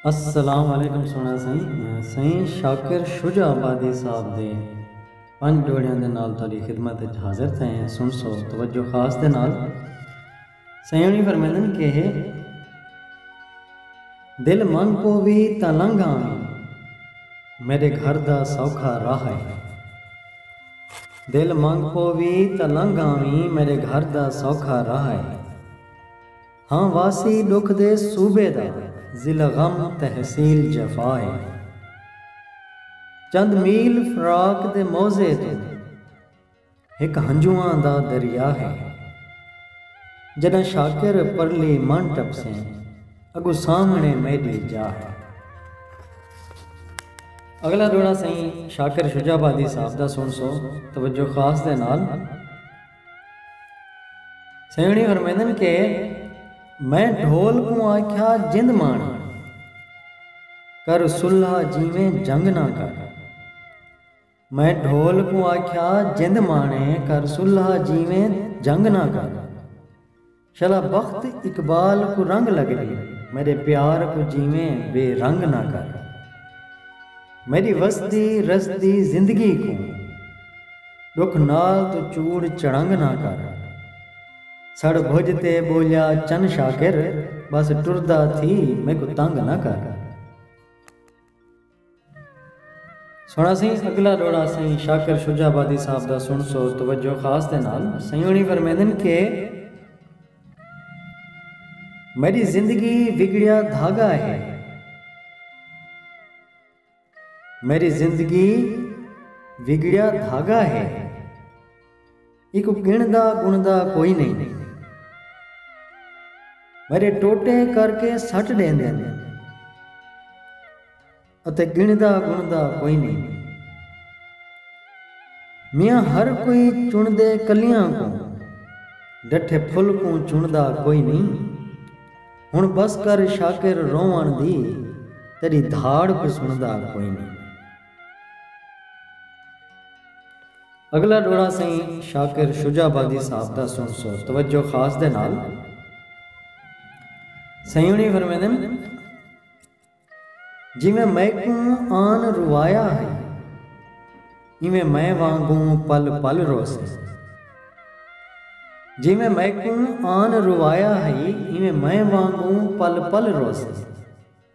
السلام علیکم سونا سائیں سائیں شاکر شجا آبادی صاحب دے پنج جوڑیاں دے نال تاری خدمت اچ حاضر تھے ہیں سن سو توجہ خاص دے نال سائیں انہی فرمیدن کہ دل من پووی تاں لنگھ آویں میݙے گھر دا سوکھا راہ اے دل من پووی تاں لنگھ آویں میݙے گھر دا سوکھا راہ اے ہاں واسی ݙکھ دے صوبے دا ضلع غم تحصیل جفا اے چند میل فراق دے موضع توں ہک ہنجواں دا دریا ہے۔ جݙاں شاکر پرلی منہ ٹپسیں۔ اڳوں سامھݨے میݙی جا ہے۔ اڳلا ݙوہڑا سئیں شاکر شجاع آبادی صاحب دا سݨسو توجہ خاص دے نال۔ سئیں ہوݨی فرمیندن کہ میں ڈھول کوں آکھیا جند ماݨ کر صلح جیویں جنگ نہ کر۔ میں ڈھول کوں آکھیا جند مانے کر سلہا جیویں جنگ نہ کر شلا بخت اقبال کوں رنگ لگ ڈی میڈے پیار کوں جیویں بے رنگ نہ کر میڈی وسدی رسدی زندگی کوں ڈکھ نال توں چوڑ چڑنگ نہ کر سڑ بھج تے بولیا چن شاکر بس ٹردا تھی میکوں تنگ نہ کر۔ سݨاسیں اڳلا ݙوہڑا سئیں شاکر شجاع آبادی صاحب دا سݨسو توجہ خاص دے نال۔ سئیں ہوݨی فرمیندن کہ میݙی زندگی وڳڑیا دھاڳا ہے۔ میݙی زندگی وڳڑیا دھاڳا ہے۔ ایکوں گنڑدا گنڑدا کوئی نئیں۔ میڈے ٹوٹے کر کے سٹ ڈیندے نے۔ اتے گنڑدا گنڑدا کوئی نئیں۔ میاں ہر کوئی چنڑدے کلیاں کوں۔ ڈٹھے پھل کوں چنڑدا کوئی نئیں۔ ہنڑ بس کر شاکر روونڑ دی۔ تیڈی دھاڑ کوں سنڑدا کوئی نئیں۔ اگلا ڈوہڑا سئیں شاکر شجاع آبادی صاحب دا سنسو توجہ خاص دے نال سئیں ہونی فرمیندن جیویں میکوں آن روایا ہئی ایویں میں وانگوں پل پل روسے جیویں میکوں آن روایا ہئی ایویں میں وانگوں پل پل روسے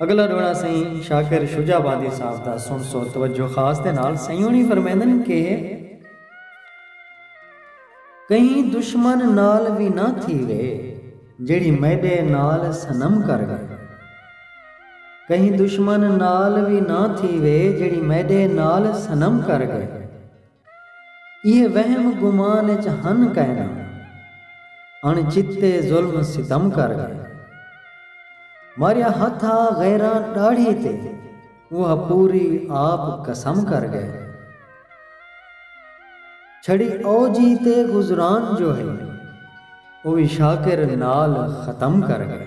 اگلا ڈوہڑا سئیں شاکر شجاع باندی صاحب دا سنسو توجہ خاص دے نال سئیں ہونی فرمیندن کہ۔ کہیں دشمن نال وی نہ تھیوے جیڑھی میڈے نال صنم کر گئے۔ کہیں دشمن نال وی نہ تھیوے جیڑھی میڈے نال صنم کر گئے۔ ایہے وہم گمان اچ ہن کائنا۔ اݨ چتے ظلم ستم کر ڳئے۔ ماریا ہتھ آ غیراں ݙاڑھی تے اوہا پوری آپ قسم کر ڳئے۔ چھڑی او جی تے گزران جو ہئی۔ او وی شاکر نال ختم کر ڳئے۔